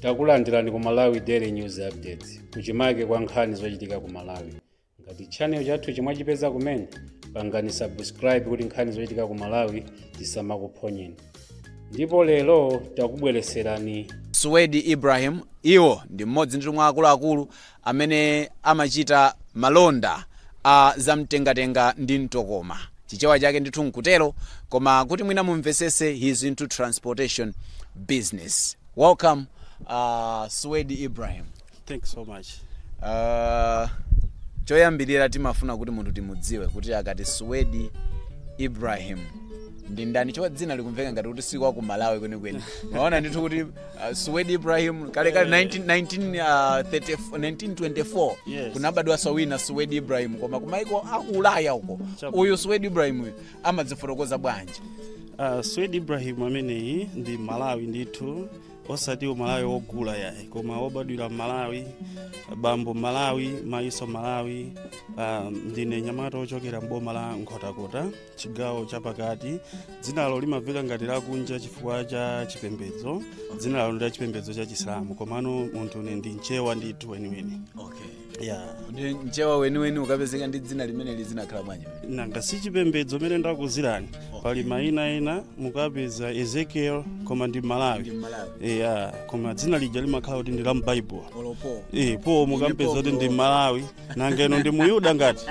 takulandirani ku malawi daily news updates kuchimake kwa nkhani zochitika ku malawi ngati channel chathu mwachipeza kumene pangani subscribe kuti nkhani zochitika ku malawi zisamakuphonyeni ndipo lero takubwereserani suwedi ibrahim iwo ndi mmodzi ndithu mwa akuluakulu amene amachita malonda a zamtengatenga ndi mtokoma, Chichewa chake ndithu nkutero, koma kuti mwina mumvesese he is into transportation business. Welcome uh, Suwedi Ibrahim. Thank you so much. Uh, choyambirira timafuna kuti munthu timudziwe kuti akati Suwedi Ibrahim ndi ndani chifukwa dzina likumveka ngati kuti si wa ku Malawi kwenikweni. Maona ndithu kuti Uh, Suwedi Ibrahim kale kale 19, 19, uh, 30, 1924 Yes. kunabadwa so wina Suwedi Ibrahim koma kumaiko aku Ulaya uko Chabwino. uyu Suwedi Ibrahim uyu amadzifotokoza bwanji Uh, Suwedi Ibrahim ameneyi ndi Mmalawi ndithu osati Umalawi wogula yayi koma wobadwira m'Malawi bambo Mmalawi mayiso Mmalawi uh, ndine nyamata wochokera m'boma la Nkhotakota chigawo chapakati dzinalo limamveka ngati lakunja chifukwa cha chipembedzo dzinalo ndi la chipembedzo cha chisilamu komano munthune ndi mchewa ndithu weniweni okay ya ndi mchewa weniweni kupezeka ndi dzina limeneli zinakhala bwanji nanga si chipembedzo mene ndakuzirani pali mayina ena mukapeza ezekiel koma ndi mmalawi mmalawi ya koma dzina lija limakhala kuti ndi la mbaibulo olo po e po mukapeza kuti ndi mmalawi nanga inu ndi muyuda ngati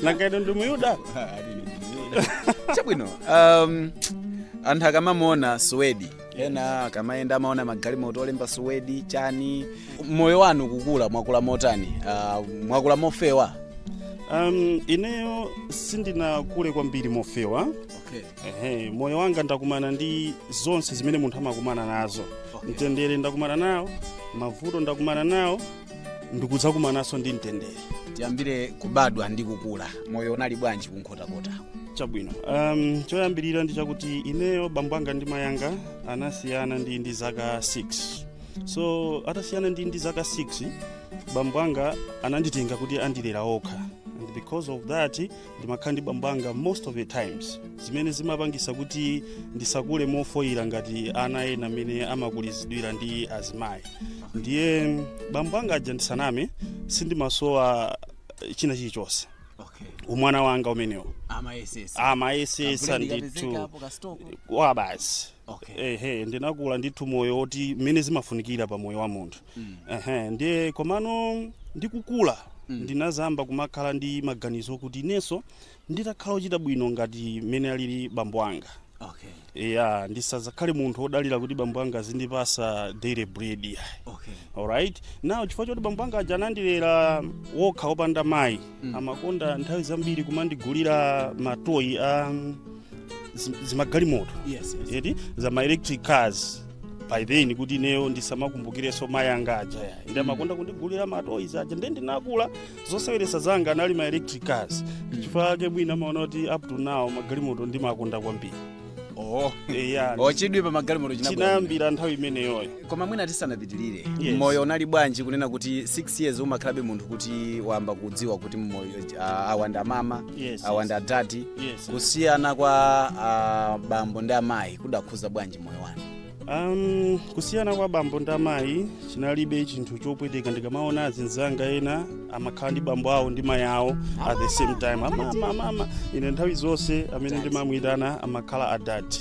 nanga inu ndi muyuda chabwino um, anthu akamamuona suwedi ena akamayenda amaona magalimoto olemba suwedi chani moyo wanu kukula mwakula motani uh, mwakula mofewa um, ineyo sindinakule kwambiri mofewa okay. Ehe, moyo wanga ndakumana ndi zonse zimene munthu amakumana nazo mtendere ndakumana nawo mavuto ndakumana nawo ndikudzakumananso ndi mtendere tiyambire kubadwa ndi kukula moyo unali bwanji kunkhotakota chabwino um, choyambirira ndi chakuti ineyo bambo anga ndi mayi anga anasiyana ndili ndi zaka 6 so atasiyana ndili ndi zaka 6 bambo anga ananditenga kuti andilera okha and because of that ndimakhala ndi bambo anga most of the times zimene zimapangisa kuti ndisakule mofoyira ngati ana ena mmene amakulizidwira ndi azimayi ndiye bambo anga aja ndisaname sindimasowa eh, china chilichonse okay umwana wanga umenewo amayesesa amayesesa ndithu kwa basi okay ehe ndinakula ndithu moyo woti zimene zimafunikira pa moyo wa munthu Ehe, ndiye komano ndikukula ndinazamba kumakhala ndi maganizo kuti inenso nditakhala ochita bwino ngati mmene alili bambo anga okay ya ndisazakhale munthu odalira kuti bambo anga azindipasa daily bread ya okay alright now chifukwa choti bambo anga aja anandilera wokha opanda mayi Mm. amakonda nthawi zambiri kumandigulira matoyi a mm, zi- zimagalimoto yes, yes. eti za ma electric cars by then kuti ineyo ndisamakumbukireso mayi anga aja ya nde amakonda kundigulira matoyi zaja nde ndinakula zoseweresa zanga anali ma electric cars ndichifukwa ake mwina mumaona kuti up to now magalimoto ndimakonda kwambiri oh eya chidwi pa magalimoto chinabwera chinayambira nthawi imeneyoyo koma mwina tisanapitirire Yes. moyo unali bwanji kunena kuti 6 years umakhalabe munthu kuti wayamba kudziwa kuti moyo uh, awanda mama Yes, awanda yes. adadi Yes, yes. kusiyana kwa uh, bambo ndi amayi kudakhuza bwanji moyo wanu Um, kusiyana kwa bambo ndi amayi chinalibe chinthu chopweteka ndikamaona azinzanga ena amakhala ndi bambo awo ndi mayi awo at the same time amama amama ine nthawi zonse amene ndimamuyitana amakhala adadi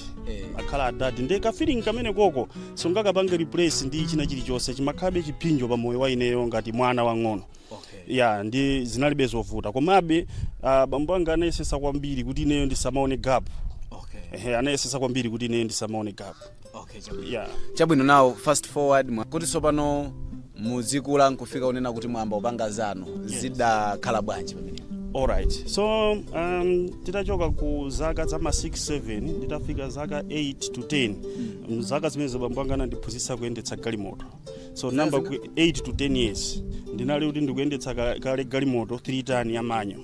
akhala adadi nde ka feeling kamene koko sungakapange replace ndi china chilichonse chimakhalabe chiphinjo pa moyo wa ineyo ngati mwana wang'ono okay. ya nde zinalibe zovuta komabe ah, bambo anga anayesesa kwambiri kuti ineyo ndisamaone gap okay. ehe anayesesa kwambiri kuti ineyo ndisamaone gap okay. chabwino. ya chabwino now fast forward mwa- kuti tsopano muzikula nkufika unena kuti mwamba upanga zanu zidakhala bwanji pamene alright so um, titachoka ku zaka za ma 6 7 nditafika zaka 8 to 10 mm. zaka zimenezo bambo anga anandiphunzitsa kuyendetsa galimoto so nomba ku 8 to 10 years ndinali kuti ndikuyendetsa ka- kale galimoto 3 ton ya manual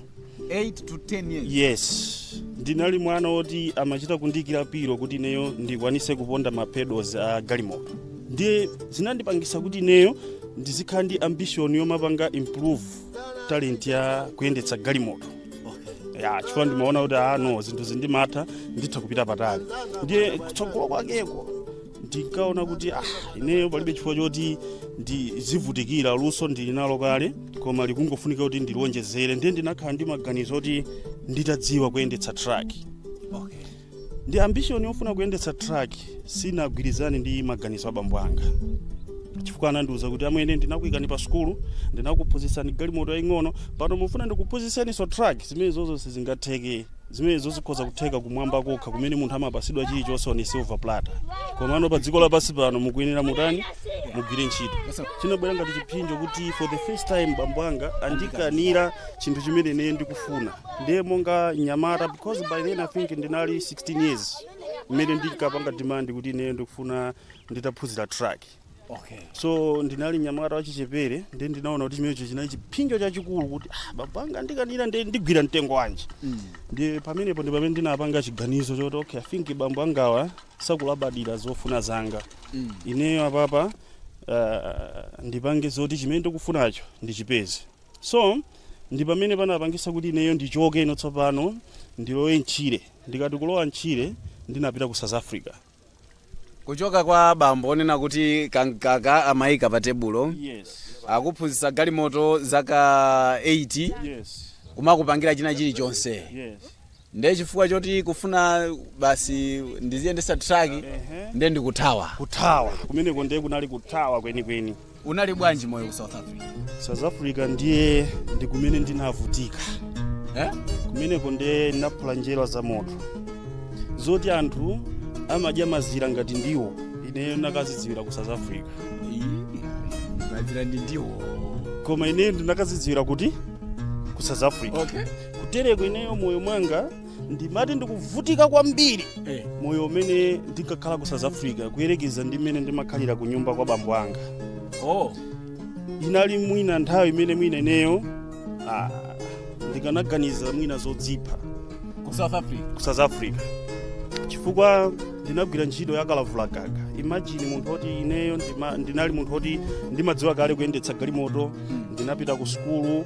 8 to 10 years yes ndinali mwana woti amachita kundiikira pillow kuti ineyo ndikwanise kuponda mapedals a galimoto ndiye zinandipangisa kuti ineyo ndizikhala ndi ambition yomapanga improve talent ya kuyendetsa galimoto ya chifukwa ndimaona kuti ah no zinthu izi ndimatha nditha kupita patali ndiye kutsogolo kwakeko ndinkaona kuti ah, ineyo palibe chifukwa choti ndizivutikira luso ndili nalo kale koma likungofunika kuti ndilionjezere ndiye ndinakhala ndi maganizo oti nditadziwa kuyendetsa truck nde ambition yofuna kuyendetsa truck sinagwirizane ndi maganizo a bambo anga chifukwa anandiuza kuti amwene ndinakuikani pa sukulu ndinakuphunzitsani galimoto yaying'ono pano mufuna ndikuphunzitseninso truck zimenezo sizingatheke Zimenezo zikhoza kutheka kumwamba kokha kumene munthu amapasidwa chilichonse on a silver platter. Komano pa dziko lapansi pano mukuyenera mutani? Mugwire ntchito. Chinabwera ngati chiphinjo kuti for the first time bambo anga andikanira chinthu chimene ine ndikufuna. Ndiye monga mnyamata because by then I think ndinali 16 years mmene ndinkapanga demand kuti ine ndikufuna nditaphunzira truck. okay. so ndinali mnyamata wachichepere ndiye ndinaona kuti chimenecho chinali chipsinjo chachikulu kuti ah, baba anga andikanira ndiye ndigwira mtengo wanji mm. ndiye pamenepo ndi pamene ndinapanga chiganizo choti okay, I think bambo angawa sakulabadira zofuna zanga mm. ineyo apapa uh, ndipange zoti chimene ndikufunacho ndichipeze so ndi pamene panapangisa kuti ineyo ndichoke ino tsopano ndilowe mtchire ndikati kulowa mtchire ndinapita ku south africa kuchoka kwa bambo onena kuti kamkaka amayika pa tebulo yes akuphunzitsa galimoto zaka 8 yes kumakupangira china chilichonse yes ndiye chifukwa choti kufuna basi ndiziyendesa truck ndiye ndikuthawa kuthawa kumeneko ndiye kunali kuthawa kwenikweni Unali bwanji moyo ku South Africa? South Africa ndiye ndi kumene ndinavutika Eh? kumeneko ndiye ndinaphula njerwa za moto zoti anthu amadya mazira ngati ndiwo ineyo ndinakazidziwira ku South Africa Mazira ndi ndiwo. koma ineyo ndinakazidziwira kuti ku South Africa Okay. kutereko ineyo moyo mwanga ndimati ndikuvutika kwambiri Eh. moyo umene ndinkakhala ku south africa kuyerekeza ndi mmene ndimakhalira ku nyumba kwa bambo anga oh inali mwina nthawi imene mwina ineyo ah, ndikanaganiza mwina zodzipha ku south africa ku south africa chifukwa ndinagwira ntchito ya kalavulagaga imagine munthu oti ineyo ndima- ndinali munthu oti ndimadziwa kale kuyendetsa galimoto ndinapita ku sukulu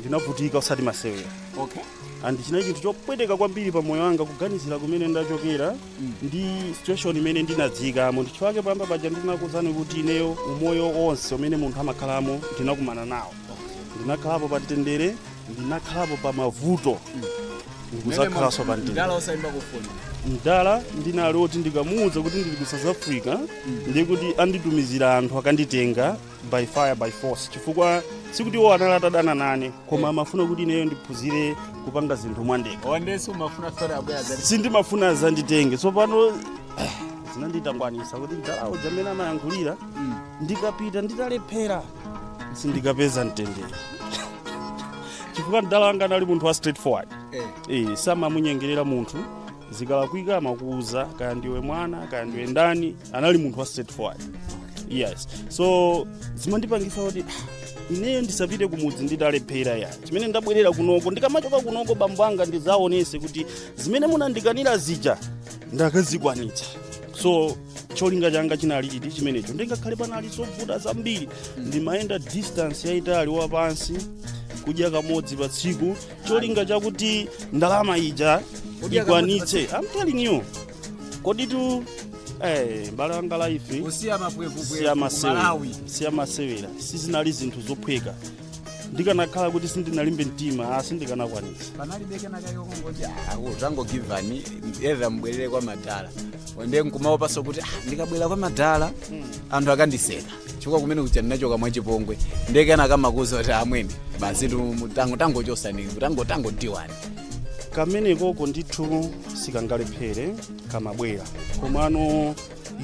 ndinavutika osati masewera okay and chinali chinthu chopweteka kwambiri pa moyo wanga kuganizira kumene ndachokera ndi situation imene ndinadziikamo ndichifukwa chake poyamba paja ndinakuwuzani kuti ineyo umoyo wonse umene munthu amakhalamo ndinakumana nawo ndinakhalapo pa mtendere ndinakhalapo pa mavuto ndikuzakhalanso pa mtendere mdala osaimba foni mdala anali oti ndikamuwuza kuti ndili ku south africa ndiye kuti anditumizira anthu akanditenga by fire by force chifukwa sikuti iwo anali atadana nane koma amafuna kuti ineyo ndiphunzire kupanga zinthu mwandekha ndiyenso umafuna fere abwere azakutenge sindimafuna azanditenge tsopano eh, zinanditangwanisa kuti mdalawo mmene amayankhulira ndikapita nditalephera sindikapeza mtendere chifukwa mdala wanga anali munthu wa straight forward eh Eh, samamunyengerera munthu zikalakwika amakuuza kaya ndiwe mwana kaya ndiwe ndani anali munthu wa straightforward yes so zimandipangisa kuti "Ah, ineyo ndisapite kumudzi nditalephera ya chimene ndabwerera kunoko ndikamachoka kunoko bambo anga ndizaonese kuti zimene munandikanira zija ndakazikwanitsa so cholinga changa chinali chiti chimenecho ndiye ngakhale panali zovuta zambiri ndimayenda distance yayitali wapansi kudya kamodzi pa tsiku cholinga chakuti ndalama ija Kudya kamodzi pa ikwanitse I'm telling you koditu eh, mbale wanga life kusiya mapwevupwevu siya ku masewera malawi siya masewera sizinali zinthu zophweka ndikanakhala kuti sindinalimbe mtima sindikanakwanisa panalibe kenakake kongoti tangogivani either mbwerere kwa madala nde nkumaopaso kuti "Ah, ndikabwerera kwa madala anthu akandiseka chifukwa kumene kuja ndinachoka mwachipongwe nde kenakake kamakuuza kuti amwene basi tu- tango tangochosani tango tangodiwani kameneko ndithu sikangalephere kamabwera komano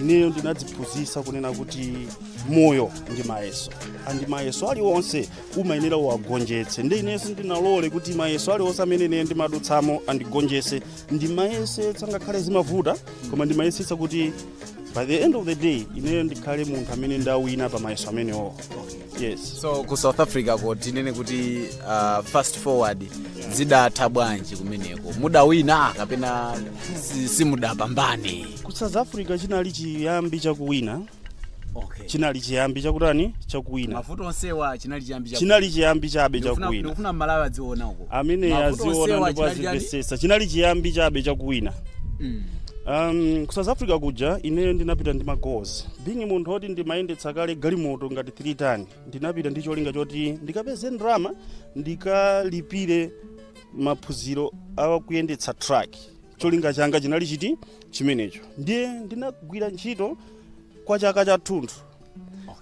ineyo ndinadziphunzitsa kunena kuti moyo ndi mayeso andi mayeso aliwonse umayenera uwagonjetse nde ineyo sindinalole kuti mayeso aliwonse amene ineyo ndimadutsamo andigonjetse ndimayesetsa ngakhale zimavuta koma ndimayesetsa kuti by the end of the day ineyo ndikhale munthu amene ndawina pa mayeso amenewo yes so ku south africa ko tinene kuti uh, fast forward zidatha bwanji kumeneko mudawina kapena si- simudapambane ku south africa chinali chiyambi chakuwina okay. chinali chiyambi chakutani chakuwina mavuto onsewa chinali chiyambi cha- chinali chiyambi chabe Ndikufuna- chakuwina ndikufuna Mmalawi adziona uko amene Mavuto aziona onsewa ndipo chinali chiyambi- azimvesesa chinali chiyambi chabe chakuwina Mm. um, ku south africa kuja ineyo ndinapita ndi magoals being munthu oti ndimayendetsa kale galimoto ngati 3 ton ndinapita ndi cholinga choti ndikapeze ndalama ndikalipire maphunziro a kuyendetsa truck cholinga changa chinali chiti chimenecho ndiye ndinagwira ntchito kwa chaka chathunthu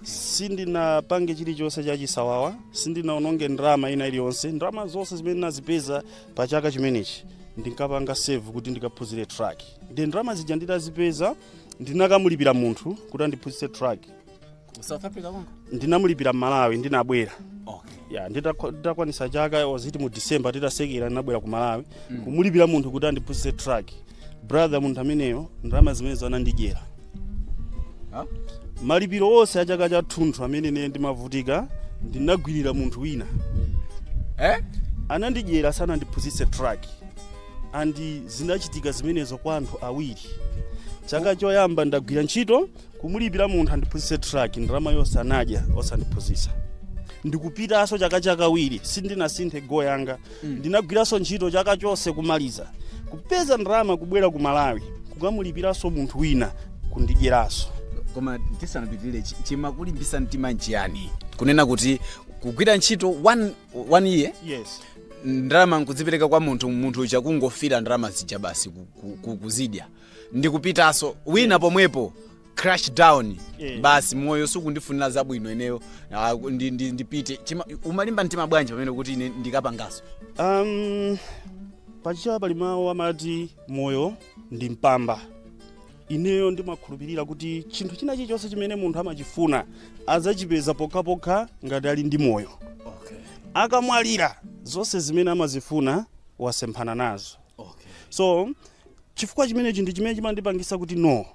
sindinapange chilichonse chachisawawa sindinaononge ndalama ina iliyonse ndalama zonse zimene ndinazipeza pa chaka chimenechi ndinkapanga save kuti ndikaphunzire truck nde ndalama zija nditazipeza ndinakamulipira munthu kuti andiphunzitse truck Ku south africa konko ndinamulipira mmalawi ndinabwera okay ya nditakwa- nditakwanisa chaka was it mu december titasekera ndinabwera ku malawi kumulipira munthu kuti andiphunzitse truck brother munthu ameneyo ndalama zimenezo anandidyera Ha? malipiro onse a chaka chathunthu amene ine ndimavutika ndinagwirira munthu wina eh anandidyera sanandiphunzitse truck andi zinachitika zimenezo kwa anthu awiri chaka choyamba ndagwira ntchito kumulipira munthu andiphunzitse truck ndalama yonse anadya osandiphunzitsa ndikupitanso chaka chakawiri sindinasinthe goal yanga ndinagwiranso ntchito chaka chonse kumaliza kupeza ndalama kubwera ku malawi kukamulipiranso munthu wina kundidyeranso koma tisanapitirire chi- chimakulimbisa mtima nchiyani kunena kuti kugwira ntchito one one year yes ndalama nkudzipereka kwa munthu munthu uja kungofira ndalama zija basi ku- ku- ku- kuzidya ndikupitanso wina pomwepo crash down Yeah. basi moyo sukundifunira zabwino ineyo ah, ndi- ndi- ndipite Chima- umalimba mtima bwanji pamene kuti ine ndikapanganso um, pachichewa pali mawu amati moyo ndi mpamba ineyo ndimakhulupirira kuti chinthu china chilichonse chimene munthu amachifuna adzachipeza pokhapokha ngati ali ndi moyo okay. akamwalira zonse zimene amazifuna wasemphana nazo okay. so chifukwa chimenechi ndi chimene chimandipangisa kuti no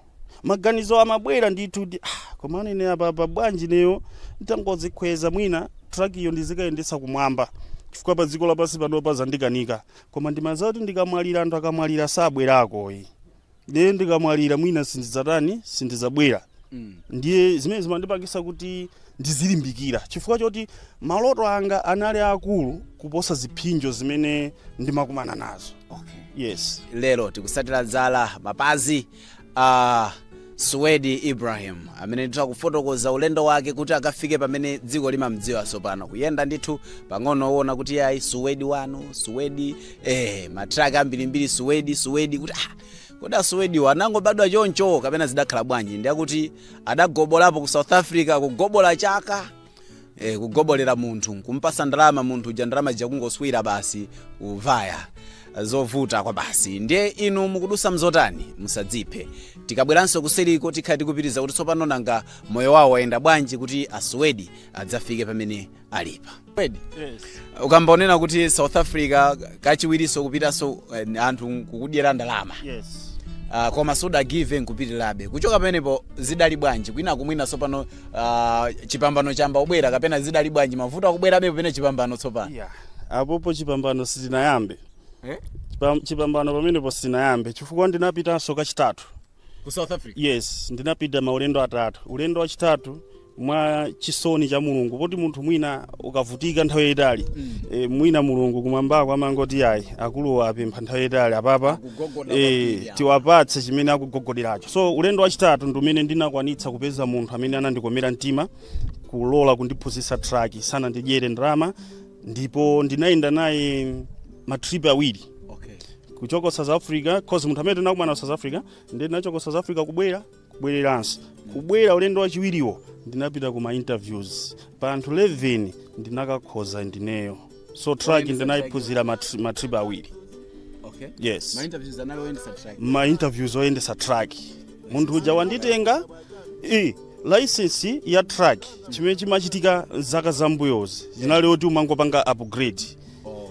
maganizo amabwera ndithu kuti ah, koma ine apapa bwanji ineyo nditangodzikhweza mwina truck iyo ndizikayendetsa kumwamba chifukwa pa dziko lapansi pano pazandikanika koma ndimadziwa kuti ndikamwalira anthu akamwalira sabwerako ayi ndiye ndikamwalira mwina sindidzatani sindidzabwera ndiye zimene zimandipangitsa kuti ndizilimbikira chifukwa choti maloto anga anali akulu kuposa zipsinjo zimene ndimakumana nazo yes lero tikutsatira zala mapazi a suwedi ibrahim amene ndithu akufotokoza ulendo wake kuti akafike pamene dziko limamdziwa tsopano kuyenda ndithu pang'ono kuona kuti yayi suwedi wanu suwedi eh matraka ambirimbiri suwedi suwedi kuti ah kodi asuwediwo anangobadwa choncho kapena zidakhala bwanji ndiye akuti adagobolapo ku south africa kugobola chaka eh, kugobolera munthu kumpatsa ndalama munthu uja ndalama zija kungoswira basi kuvaya zovuta kwa basi ndiye inu mukudutsa mzotani musadziphe tikabweranso kuseriko tikhala tikupitiriza kuti tsopano nanga moyo wawo wayenda bwanji kuti asuwedi adzafike pamene alipa Suwedi, Yes. ukamba wonena kuti south africa kachiwirinso kupitanso eh, anthu kukudyera ndalama Yes. uh, koma sudagive up nkupitirabe kuchoka pamenepo zidali bwanji kwina kumwina tsopano uh, chipambano chayamba kubwera kapena zidali bwanji mavuto akubwerabe pamene chipambano tsopano Yeah. Apopo chipambano sitinayambe. Eh? Chipam- Chipambano pamenepo sitinayambe chifukwa ndinapitanso kachitatu. ku south africa yes ndinapita maulendo atatu ulendo wachitatu mwa chisomo cha mulungu poti munthu mwina ukavutika nthawi yayitali mm. e, mwina mulungu kumwambako amangoti ayi akuluwo apempha nthawi yayitali apapa e, tiwapatse chimene akugogoderacho so ulendo wachitatu ndi umene ndinakwanitsa kupeza munthu amene anandikomera mtima kulola kundiphunzitsa traki sanandidyere ndalama ndipo ndinayenda naye matrip awiri okay. kuchoka south africa cause munthu amene tinakumana ku south africa ndiye ndinachoka south africa kubwera kubwereranso kubwera ulendo wachiwiriwo ndinapita ku ma interviews pa anthu 11 ndinakakhoza ndineyo so truck ndinayiphunzira matri- matrip awiri okay. yes Ma interviews anali oyendetsa truck ma interviews oyendetsa truck munthu uja wanditenga license ya truck chimene chimachitika zaka zambuyozi zinali oti umangopanga upgrade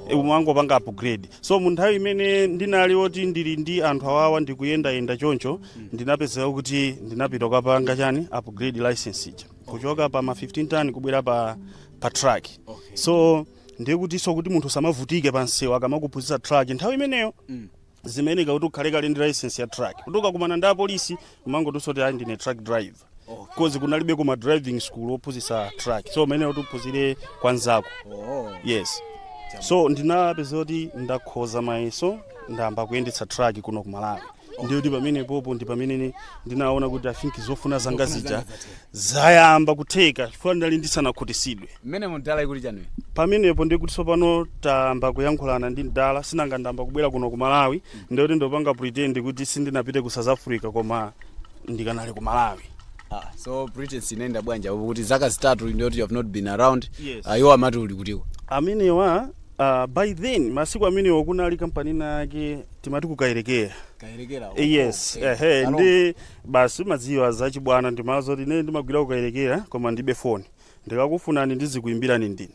Eh, umangopanga upgrade so mu nthawi imene ndinali oti ndili ndi anthu awawa ndikuyendayenda choncho ndinapezeka kuti ndinapita kukapanga chani upgrade license ija kuchoka pa ma 15 ton kubwera pa, pa truck so ndiye kutinso kuti munthu asamavutike pa msewu akamakuphunzitsa truck nthawi imeneyo zimayeneka kuti ukhale kale ndi license ya truck kuti ukakumana ndi apolisi umangotiso kuti ayi ndine truck driver cause kunalibe kuma driving school ophunzitsa truck so umayenera kuti uphunzire kwa nzako yes so ndinapeza kuti ndakhoza mayeso ndayamba kuyendetsa truck kuno ku malawi ndiye kuti pamene popo ndi pamene ni- ndinaona kuti i think zofuna zanga zija zayamba kutheka chifukwa ndinali ndisanakhutisidwe mmene mudala ikuli chanuyo pamenepo ndikuti tsopano tayamba kuyankhulana ndi mdala sinanga ndayamba kubwera kuno ku malawi ndikuti ndopanga pretend kuti sindinapite ku south africa koma ndikanali ku malawi ah, so british inayenda bwanji apo kuti zaka zitatu ndiyoti you have not been around Yes. iwo amati uli kutiko amenewa uh, by then masiku amenewo kunali kampani inayake timati ku kayelekera kayelekera yes ehe ndiye basi mumadziwa zachibwana ndimawauza kuti ine ndimagwira ku kayelekera koma ndibe foni ndikakufunani ndizikuimbirani ndine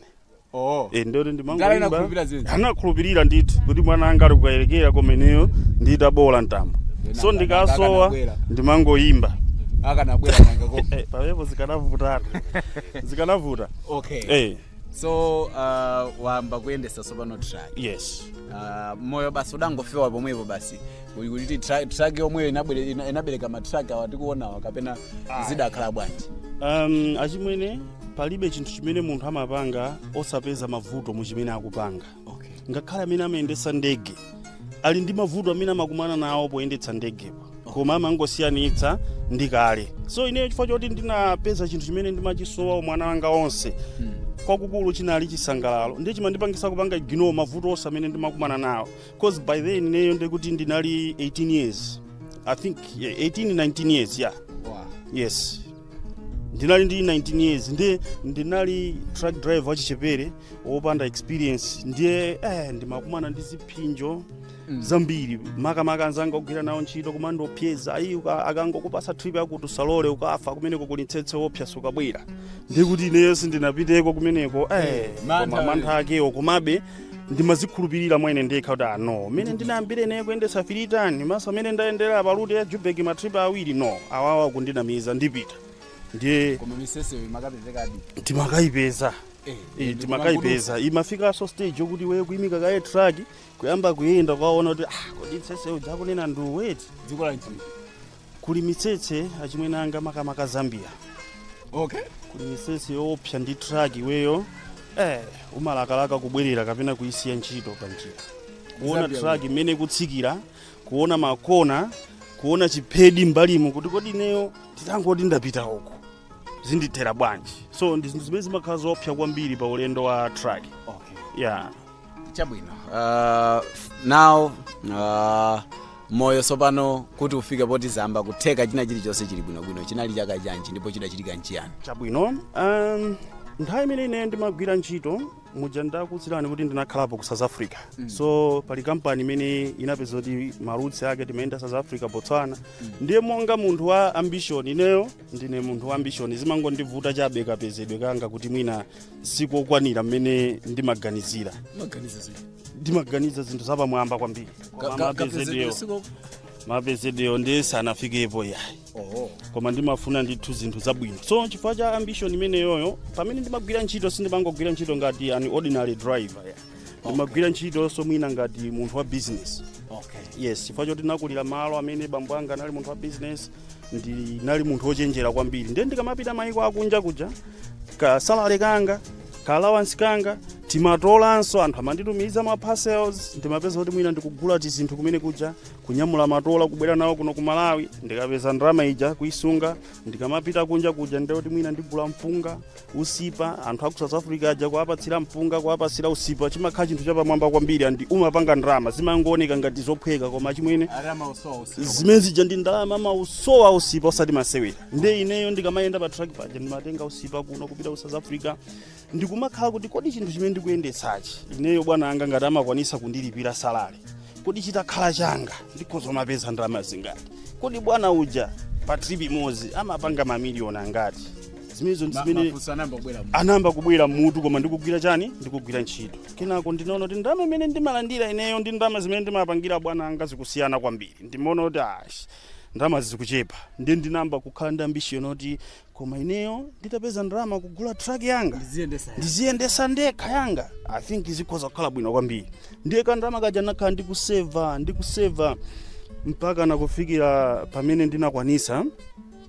oh. e, ndiye kuti ndimangoimba anakhulupirira ndithu kuti mwana anga ali ku kayelekera koma ineyo nditaboola mtambo so ndikasowa ndimangoimba akanabwera eh, pamenepo zikanavutatu zikanavuta okay hey. Eh. so uh, wayamba kuyendesa sopano truck yes uh, moyo basi udangofewa pomwepo basi Kuli kuti tru- truck yomweyo inabwere- ina- inabereka matruck awa tikuonawa kapena zidakhala bwanji um, achimwene palibe chinthu chimene munthu amapanga osapeza mavuto mu chimene akupanga okay. ngakhale amene amayendetsa ndege ali ndi mavuto amene amakumana nawo poyendetsa ndegepo koma amangosiyanitsa ndi kale so ineyo chifukwa choti ndinapeza chinthu chimene ndimachisowa umwana wanga onse kwakukulu chinali chisangalalo ndiye chimandipangisa kupanga ignore mavuto onse amene ndimakumana nawo cause by then ineyo ndekuti ndinali 18 years i think yeah, 18 19 years yeah yes ndinali ndi 19 years ndiye ndinali truck driver wachichepere wopanda experience ndiye eh, ndimakumana ndi ziphinjo mm. zambiri makamaka anzanga ogwira nawo ntchito kumandiopseza ayi uka- akangokupasa trip yakuti usalole ukafa kumeneko kuli mtsetse woopsa sukabwera ndikuti ineyo sindinapiteko kumeneko eh, mantha koma mantha akewo komabe ndimazikhulupirira mwa ine ndekha kuti ah no mmene ndinayambire naye kuyendetsa 3 ton maso amene ndayendera pa route ya joburg matripa awiri no awawa kundinamiza ndipita ndiye koma mitsetseyo imakapezekadi timakayipeza Eh, Eh, timakayipeza imafikanso stage yokuti iweyo kuyimika kaye truck kuyamba kuyenda kukaona kuti ah, kodi mtsetse uja akunena ndiuweti dziko la nchini kuli mitsetse achimwene anga makamaka zambia okay kuli mitsetse yoopsa ndi truck iweyo eh umalakalaka kubwerera kapena kuisiya ntchito pa njira kuona truck imene ikutsikira kuona makona kuona chiphedi mbalimo kuti kodi ineyo nditangoti ndapita uko zindithera bwanji so ndi zinthu zimene zimakhala zoopsa kwambiri pa ulendo wa truck okay yeah chabwino uh, now uh, moyo tsopano kuti ufike poti zayamba kutheka china chilichonse chili bwinobwino chinali chaka chanji ndipo chidachitika nchiyani chabwino um, nthawi imene ine ndimagwira ntchito muja ndakutsirani kuti ndinakhalapo ku south africa mm. so pali kampani imene inapeza kuti ma routes ake timayenda south africa botswana mm. ndiye monga munthu wa ambition ineyo ndine munthu wa ambition zimangondivuta chabe kapezedwe kanga kuti mwina sikokwanira mmene ndimaganizira ndimaganiza zinthu zapamwamba kwambiri mapezedwewo ndiye sanafikepo yayi oho koma ndimafuna ndithu zinthu zabwino so chifukwa cha ambition imeneyoyo pamene ndimagwira ntchito sindimangogwira ntchito ngati an ordinary driver ya ndimagwira ntchitonso mwina ngati munthu wa business okay. yes chifukwa choti ndinakulira malo amene bambo anga anali munthu wa business ndinali munthu wochenjera kwambiri ndiye ndikamapita mayiko akunja kuja ka salary kanga ka allowance kanga timatolanso anthu amanditumiza ma parcels ndimapeza kuti mwina ndikugula tizinthu kumene kuja kunyamula matola kubwera nawo kuno ku malawi ndikapeza ndalama ija kuisunga ndikamapita kunja kuja ndiye kuti mwina ndigula mpunga usipa anthu aku south africa aja kuwapatsira mpunga kuwapatsira usipa chimakhala chinthu chapamwamba kwambiri and umapanga ndalama zimangooneka ngati zophweka koma chimwene zimene zija ndi ndalama amausowa usipa osati masewera nde ineyo ndikamayenda pa truck paja ndimatenga usipa kuno kupita ku south africa ndikumakhala kuti kodi chinthu chimene ndikuyendetsachi ineyo bwana anga ngati amakwanisa kundilipira salary kodi chitakhala changa ndikhoza kumapeza ndalama zingati kodi bwana uja pa trip imodzi amapanga mamiliyoni angati zimenezo ndi zimene anayamba kubwera mutu koma ndikugwira chani ndikugwira ntchito kenako ndinaona kuti ndalama imene ndimalandira ineyo ndi ndalama zimene ndimapangira bwana anga zikusiyana kwambiri ndimaona kuti ash ndalama zikuchepa ndi ndinayamba kukhala ndi ambition yoti koma ineyo nditapeza ndalama kugula truck yanga ndiziyendesa ndekha yanga i think zikhoza kukhala bwino kwambiri ndiye kandalama kaja nakhala ndikuseva ndikuseva mpaka nakufikira pamene ndinakwanisa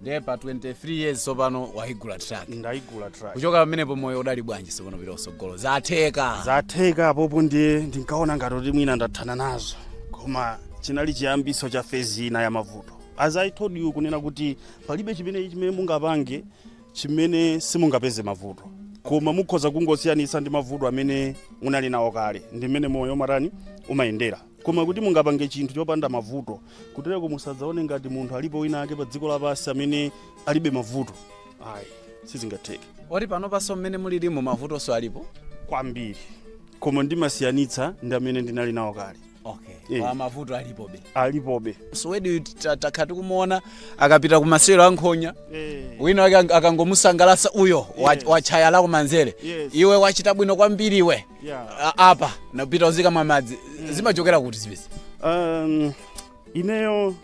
ndiye pa 23 years tsopano waigula truck ndaigula truck kuchoka pamenepo moyo udali bwanji tsopano pita usogolo zatheka zatheka apopo ndiye ndinkaona ngati kuti mwina ndathana nazo koma chinali chiyambiso cha phase ina ya mavuto as i told you kunena kuti palibe chimene chimene mungapange chimene simungapeze mavuto koma mukhoza kungosiyanitsa ndi mavuto amene munali nawo kale ndi mmene moyo matani umayendera koma kuti mungapange chinthu chopanda mavuto kutereko musadzaone ngati munthu alipo wina ake pa dziko lapansi amene alibe mavuto ayi sizingatheke oti panopanso mmene mulirimo mavutonso alipo kwambiri koma ndimasiyanitsa ndi amene ndinali nawo kale okay Eh. ah mavuto alipobe alipobe suwedi takha tikumuona akapita ku masewero a nkhonya Eh. wina wake ang- akangomusangalasa uyo wa- Yes. watchaya la kumanzere Yes. iwe wachita bwino kwambiri iwe yeah. a- apa napita uzika mwamadzi zimachokera kuti zimenezi um, ineyo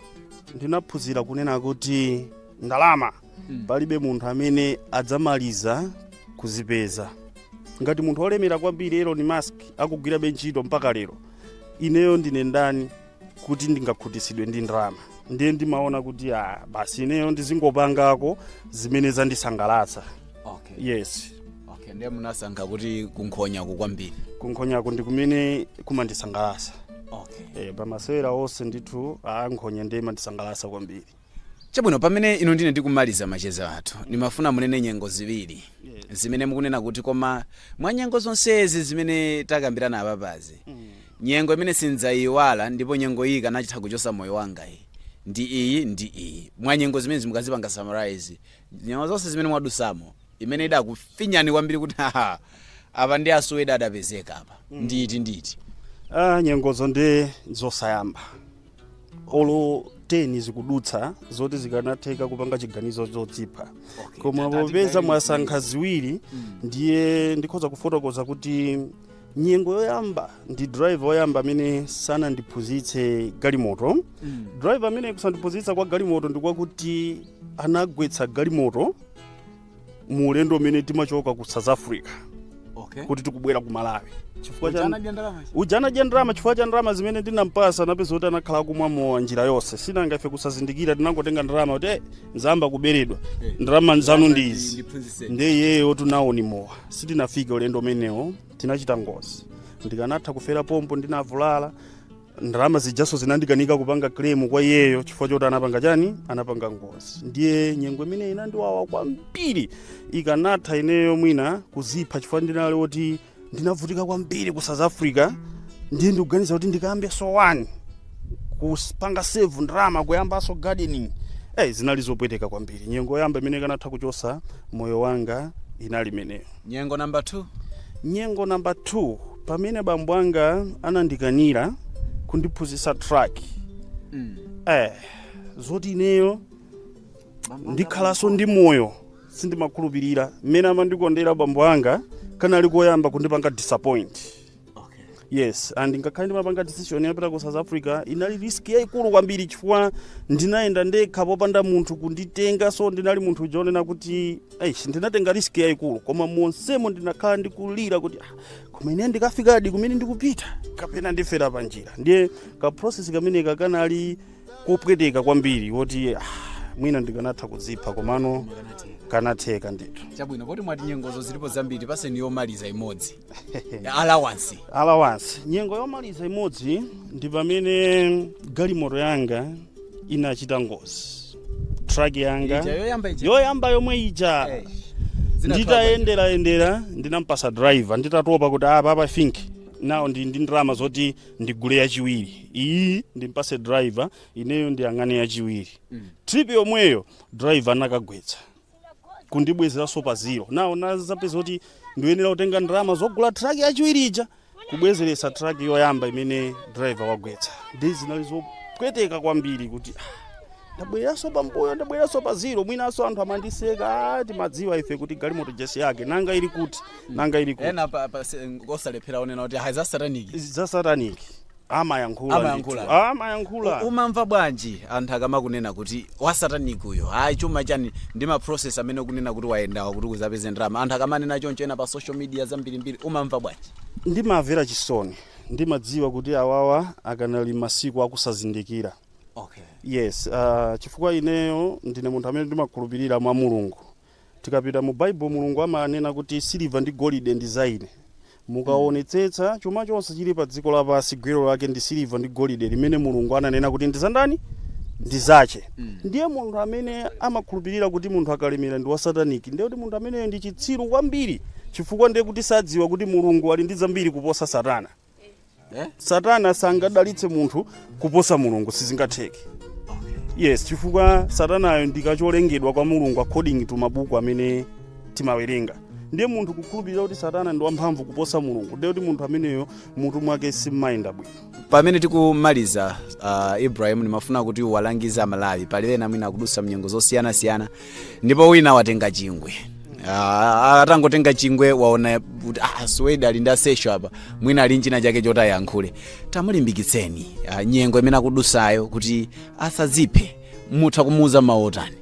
ndinaphunzira kunena kuti ndalama Mm. palibe munthu amene adzamaliza kuzipeza ngati munthu olemera kwambiri elon musk akugwirabe ntchito mpaka lero ineyo ndine ndani kuti ndingakhutitsidwe ndi ndalama ndiye ndimaona kuti ah, basi ineyo ndizingopangako zimene zandisangalatsa okay. yes okay. ndiye munasankha kuti kunkhonyaku kwambiri kunkhonyaku ndi kumene kumandisangalatsa okay. e, pamasewero onse ndithu a nkhonya ndiye imandisangalatsa kwambiri Chabwino, pamene inu ndine tikumaliza macheza athu, ndimafuna munene nyengo ziwiri zimene mukunena kuti koma mwa nyengo zonsezi zimene takambirana apapazi, nyengo imene sindzaiwala ndipo nyengo iyi ikanachitha kuchotsa moyo wanga iyi ndi iyi ndi iyi. Mwa nyengo zimenezi mukazipanga summarize nyengo zonse zimene mwadutsamo, imene idakufinyani kwambiri kuti haha apa ndi a Suwedi adapezeka apa ndi iti ndi iti? Ah, nyengozo ndi zosayamba olo 10 zikudutsa zoti zikanatheka kupanga chiganizo chodzipha Okay, koma tati popeza tigaire mwasankha ziwiri ndiye ndikhoza kufotokoza kuti nyengo yoyamba ndi driver woyamba amene sanandiphunzitse galimoto Mm. driver amene kusandiphunzitsa kwa galimoto ndikwakuti anagwetsa galimoto mu ulendo umene timachoka ku south africa okay kuti tikubwera ku malawi chifukwa cha Uja anadya ndalama ichi? uja anadya ndalama chifukwa cha ndalama zimene ndinampasa napeza kuti anakhala kumwa mowa njira yonse si nanga ife kusazindikira tinangotenga ndalama kuti eh, ndayamba kuberedwa Eh. ndalama zanu ndi izi Ndiphunzitse. ndi iyeyo tinaona ndi mowa sitinafike ulendo umenewo tinachita ngozi ndikanatha kufera pompo ndinavulala ndalama zijanso zinandikanika kupanga claim kwa iyeyo chifukwa choti anapanga chani anapanga ngozi ndiye nyengo imeneyi inandiwawa kwambiri ikanatha ineyo mwina kudzipha chifukwa ndinali woti ndinavutika kwambiri ku south africa ndiye ndikuganiza kuti ndikayambenso wani kupanga save ndalama kuyambanso gardening eh zinali zopweteka kwambiri nyengo yoyamba imene ikanatha kuchotsa moyo wanga inali imeneyo Nyengo number 2. Nyengo number 2 pamene bambo anga anandikanira kundiphunzitsa truck. Mm. Eh, zoti ineyo ndikhalanso ndi moyo sindimakhulupirira mmene amandikondera bambo anga kanali koyamba kundipanga disappoint. okay. yes and ngakhale ndimapanga decision yapita ku south africa inali risk yayikulu kwambiri chifukwa ndinayenda ndekha popanda munthu kunditenga so ndinali munthu uja onena kuti eish ndinatenga risk yayikulu koma monsemo ndinakhala ndikulira kuti "Ah, koma ine ndikafikadi kumene ndikupita kapena ndifera pa njira ndiye ka process kameneka kanali kopweteka kwambiri woti ah, mwina ndikanatha kudzipha komano kanatheka ndithu chabwino poti mwati nyengozo zilipo zambiri tipatseni yomaliza imodzi allowance allowance nyengo yomaliza imodzi ndi pamene galimoto yanga inachita ngozi truck yanga Ija yoyamba ija. yoyamba yomwe ija Eh, nditayendera yendera ndinampasa driver nditatopa kuti apa apa think now ndi ndi ndalama zoti ndigule yachiwiri iyi ndimpase driver ineyo ndiyang'ane yachiwiri trip yomweyo driver anakagwetsa kundibwezeranso pa zero now ndinazapeza kuti ndiyenera kutenga ndalama zogula truck yachiwiri ija kubwezeretsa truck yoyamba imene driver wagwetsa nde zinali zopweteka kwambiri kuti ah, ndabwereranso pambuyo ndabwereranso pa zero mwinanso anthu amandiseka "Ah, timadziwa ife kuti galimoto ija si yake nanga ili kuti nanga ili kuti ena pa- pa- se- osalephera onena kuti hayi za satanic za satanic amayankhula Amayankhula. ndithu. amayankhula U- umamva bwanji anthu akamakunena kuti wasatanic uyo hayi chuma chani ndi ma process amene ukunena kuti wayendawa kuti uzapeze ndalama anthu akamanena choncho ena pa social media zambirimbiri umamva bwanji ndimamvera chisoni ndimadziwa kuti awawa akanali masiku akusazindikira okay yes uh, chifukwa ineyo ndine munthu amene ndimakhulupirira mwa mulungu Tikapita mu Bible Mulungu amanena kuti siliva ndi golide ndi za ine. Mukaonetsetsa chuma chonse chili pa dziko lapansi gwero lake ndi siliva ndi golide limene Mulungu ananena kuti ndi za ndani? Ndi zache. Ndiye munthu amene amakhulupirira kuti munthu akalemera ndi wa sataniki ndiye kuti munthu ameneyo ndi chitsiru kwambiri chifukwa ndiye kuti sadziwa kuti Mulungu ali ndi zambiri kuposa Satana. eh? satana sangadalitse munthu kuposa mulungu sizingatheke yes chifukwa satanayo ndikacholengedwa kwa mulungu according to mabuku amene timawerenga ndiye munthu kukhulupirira kuti satana ndi wamphamvu kuposa mulungu ndiye kuti munthu ameneyo mutu mwake simmayenda bwino pamene tikumaliza uh, ibrahim ndimafuna kuti uwalangize amalawi pali ena mwina akudusa mnyengo zosiyanasiyana ndipo wina watenga chingwe Ah, atangotenga chingwe waona kuti ah, Suwedi ali ndi asesho apa mwina ali nchina chake choti ayankhule tamulimbikitseni ah, nyengo imene akudusayo kuti asadziphe mutha kumuuza mawu otani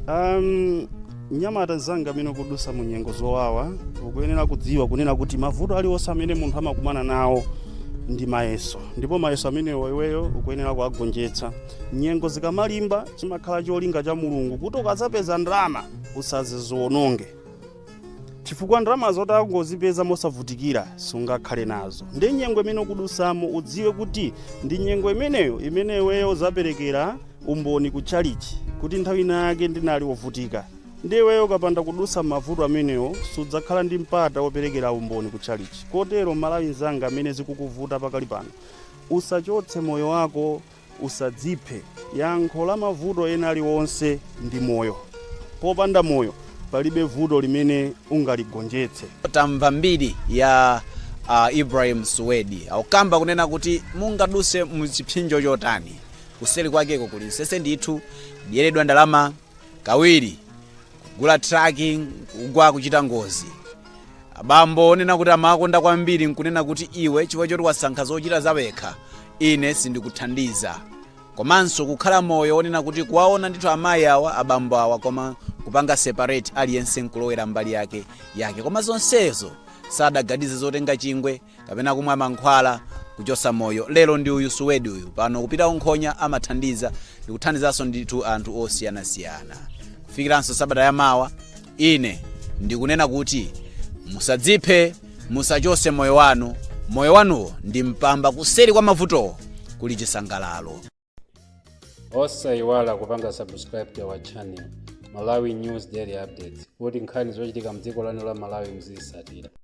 um, mnyamata mzanga amene ukudusa mu nyengo zowawa ukuyenera kudziwa kunena kuti mavuto aliwonse amene munthu amakumana nawo ndi mayeso ndipo mayeso amenewo iweyo ukuyenera kuwagonjetsa nyengo zikamalimba chimakhala cholinga cha mulungu kuti ukazapeza ndalama usazaziwononge chifukwa ndalama zongozipeza mosavutikira sungakhale nazo ndi nyengo imene ukudusamo udziwe kuti ndi nyengo imeneyo imene iweyo uzaperekera umboni ku chalichi kuti nthawi ina yake ndinali wovutika ndi iweyo ukapanda kudusa mavuto amenewo sudzakhala ndi mpata woperekera umboni ku chalichi kotero mMalawi nzanga amene zikukuvuta pakali pano usachotse moyo wako Usadziphe. Yankho la mavuto ena aliwonse ndi moyo. Popanda moyo, palibe vuto limene ungaligonjetse. Tamva mbiri ya Ibrahim Suwedi. Akukamba kunena kuti mungaduse mu chipsinjo chotani, kuseli kwakeko kuli nsese ndithu, kudyeredwa ndalama kawiri. kugula truck kugwa kuchita ngozi abambo onena kuti amawakonda kwambiri nkunena kuti iwe chifukwa choti wasankha zochita zawekha ine sindikuthandiza komanso kukhala moyo onena kuti kuwaona ndithu amayi awa abambo awa koma kupanga separate aliyense nkulowera mbali yake yake koma zonsezo sadaganize zotenga chingwe kapena kumwa mankhwala kuchosa moyo lero ndi uyu suwedi uyu pano kupita unkhonya amathandiza ndikuthandizanso ndithu anthu osiyanasiyana kufikiranso sabata ya mawa ine ndikunena kuti musadziphe musachose moyo wanu moyo wanuwo ndi mpamba kuseri kwa mavutowo kuli chisangalalo osayiwala kupanga subscribe to our channel malawi news daily updates kuti nkhani zochitika mdziko lanu la malawi muzisatira